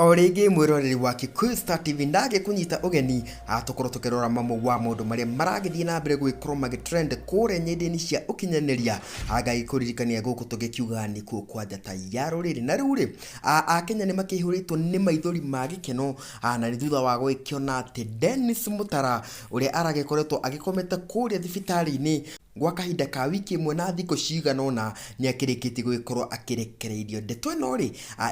o rĩngĩ mwĩroreri wa Kikuyu Star TV ndagĩ kũnyita ũgeni atũkorwo tũkĩrora mamwe wa maũndũ marĩa maragĩthiĩ na mbere gũgĩkorwo magĩtrend kũrĩa nyenda-inĩ cia ũkinyanĩria agagĩkũririkania gũkũ tũgĩkiuga nĩ kuo kwa njata ya rũrĩrĩ na rĩu rĩ a- akenya nĩ makĩihũrĩtwo nĩ maithori ma gĩkeno a, na nĩ thutha wa gũgĩkĩona atĩ Dennis Mutara ũrĩa aragĩkoretwo agĩkomete kũrĩa thibitarĩ-inĩ Gwa kahinda ka wiki ĩmwe na thikũ cigana ũna, nĩ akĩrĩkĩtie gũgĩkorwo akĩrekereirio. Ndeto ĩno-rĩ,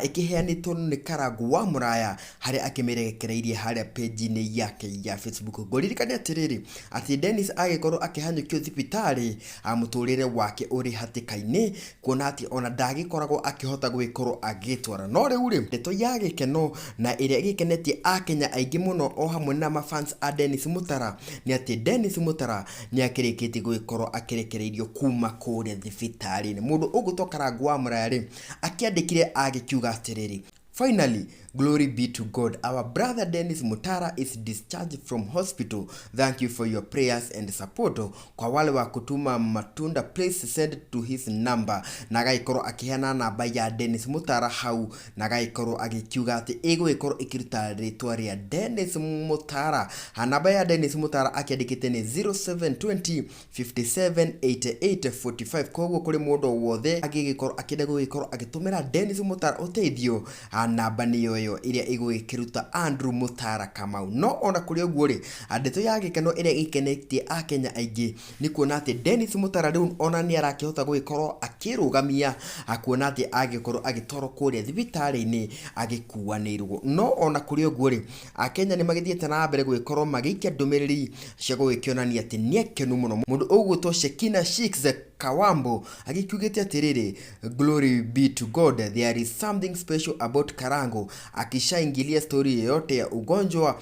ĩkĩheanĩtwo nĩ Karangũ wa Mũraya, harĩa akĩmĩrekereirie harĩa page-inĩ yake ya Facebook. Ngũririkane atĩrĩrĩ, atĩ Dennis agĩkorwo akĩhanyũkio thibitarĩ, mũtũrĩre wake ũrĩ hatĩka-inĩ, kuona atĩ ona ndagĩkoragwo akĩhota gũgĩkorwo agĩgĩtwara. No rĩu-rĩ, ndeto ya gĩkeno na ĩrĩa ĩgĩkenetie Akenya aingĩ mũno o hamwe na ma fans a Dennis Mũtara, nĩ atĩ Dennis Mũtara nĩ akĩrĩkĩtie gũgĩkorwo akĩrekereirio kuma kũrĩa thibitarĩ-inĩ. Mũndũ ũgwĩtwo Karangũ wa Mũraya rĩ, akĩandĩkire agĩkiuga atĩrĩrĩ, Finally, glory be to God. Our brother Dennis Mutara is discharged from hospital. Thank you for your prayers and support. Kwa wale wa kutuma matunda, please send to his number. Na agagĩkorwo akĩheana namba ya Dennis Mutara hau na agagĩkorwo agĩkiuga atĩ ĩgũgĩkorwo ĩkĩruta rĩtwa rĩa Dennis Mutara. Ha, Namba ya Dennis Mutara akĩandĩkĩte nĩ 0720 578845 koguo kũrĩ mũndũ o wothe angĩgĩkorwo akĩenda gũgĩkorwo agĩtũmĩra Dennis Mutara ũteithio ha, namba nĩyo ĩyo ĩrĩa ĩgũgĩkĩruta Andrew Mutara Kamau. No ona kũrĩ ũguo rĩ, ndeto ya gĩkeno ĩrĩa ĩgĩkenetie Akenya aingĩ nĩ kuona atĩ Dennis Mũtara rĩu ona nĩ arakĩhota gũgĩkorwo akĩrũgamia ah, kuona atĩ agĩkorwo agĩtwarwo kũrĩa thibitarĩ-inĩ agĩkuanĩirwo no ona kũrĩ ũguo rĩ akenya nĩ magĩthiĩte na mbere gũgĩkorwo magĩikia ndũmĩrĩri cia gũgĩkĩonania atĩ nĩ akenu mũno mũndũ ũgwĩtwo Shekina Shiks Kawambo agĩkiugĩte atĩrĩrĩ glory be to God there is something special about Karango akishaingilia story yoyote ya ugonjwa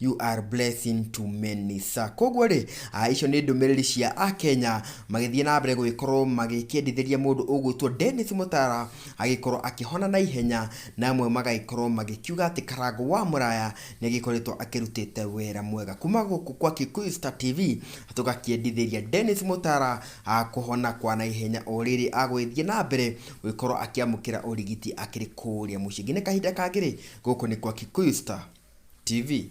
You are blessing to many sir. Koguo rĩ, ah, icio nĩ ndũmĩrĩri cia Akenya magĩthiĩ na mbere gũgĩkorwo magĩkĩendithĩria mũndũ ũgwĩtwo Dennis Mũtara agĩkorwo akĩhona na ihenya na amwe magagĩkorwo magĩkiuga atĩ Karangũ wa Mũraya nĩ agĩkoretwo akĩrutĩte wĩra mwega kuma gũkũ kwa Kikuyu Star TV tũgakĩendithĩria Dennis Mũtara ah, kũhona kwa na ihenya o rĩrĩ agũgĩthiĩ na mbere gũgĩkorwo akĩamũkĩra ũrigiti akĩrĩ kũrĩa mũciĩ. Nginya kahinda kangĩ rĩ, gũkũ nĩ gwa Kikuyu Star TV.